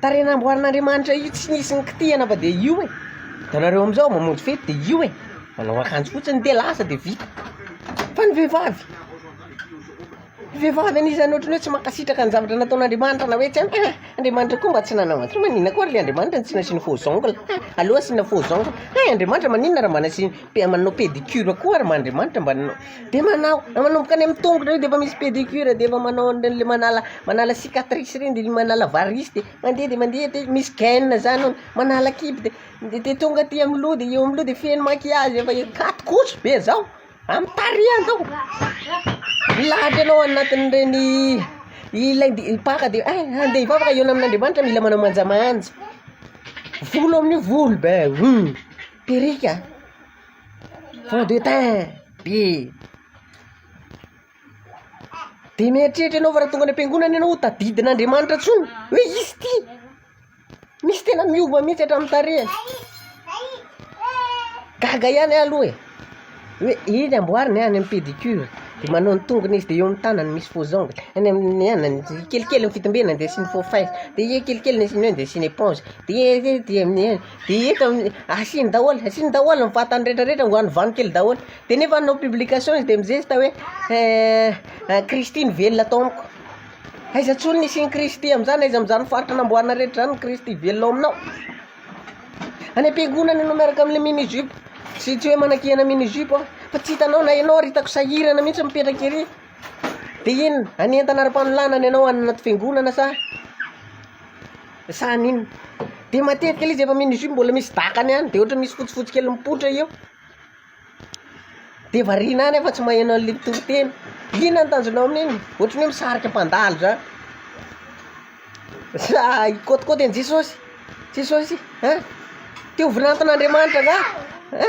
Tarehy namboarin'Andriamanitra io tsy nisy nikitihana fa dia io e, itanareo amin'izao mamonjy fety dia io e, manao akanjo fotsiny dia lasa dia vita, fa ny vehivavy, ny vehivavy anisany ohatry ny hoe tsy mankasitraka ny zavatra nataon'Andriamanitra na hoe tsy haiko, ah Andriamanitra koa mba tsy nanao an'izao, maninona koa ary le Andriamanitra no tsy nasiany faux ongle, hay aleo asiana faux ongle, hay Andriamanitra maninona raha mba nasiany, mba manao pedicure koa ary mba Andriamanitra mba nanao. de manao manomboka any amin'ny tongotra eo de efa misy pedicure de efa manao an'ireny le manala manala cicatrice reny de le manala varisy de mandeha de mandeha de misy gaine zany ao manala kibo de de de tonga aty amin'ny loha de eo amin'ny loha de feno maquillage efa e- katy koto be zao amin'ny tarehy any zao milahatra ianao anatin'ireny ilay de mpaka de ay ny vehivavy raha hihaona amin'Andriamanitra mila manao manjamanja volo amin'io volo be hum perruque a. Fond de teint be. Dia mieritreritra ianao fa raha tonga any am-piangonana ianao ho tadidin'Andriamanitra intsony hoe izy ity. Misy tena miova mihitsy hatramin'ny tarehiny. Gaga ihany aho aloha e. Hoe eny amboariny any amin'ny pédicure dia manao ny tongony izy dia eo amin'ny tanany misy faux ongle. Any amin'ny anany kelikely ny fitombenany dia asiany faux fin. Dia kelikely ny asiany eo dia asiany éponge. Dia dia dia de eto amin'ny asiny daholo asiny daholo ny vatany retraretra ngo any vano kely daholo de nefa hanao publication izy de mizesta hoe eh Kristy no velona ato amiko aiza tsony ny hisian'i Kristy am'zany aiza am'zany faritra namboarina rehetra zany ny Kristy velona ao aminao any am-piangonana ianao miaraka am'le mini jupe sy tsy hoe manakiana mini jupe aho fa tsy hitanao na ianao ary hitako sahirana mihitsy mipetraka ery. De inona? Hanentana ara-panolanana ianao any anaty fiangonana sa sa haninona? De matetika le izy efa mini jupe mbola misy dakany ihany de ohatra misy fotsifotsy kely mipoitra eo de variana any fa tsy maheno an'le mpitoriteny, inona ny tanjonao amin'iny? Ohatra ny hoe misarika mpandalo zany sa hikôtikôty an'i Jesosy? Jesosy a! Te ho vinanton'Andriamanitra angaha a!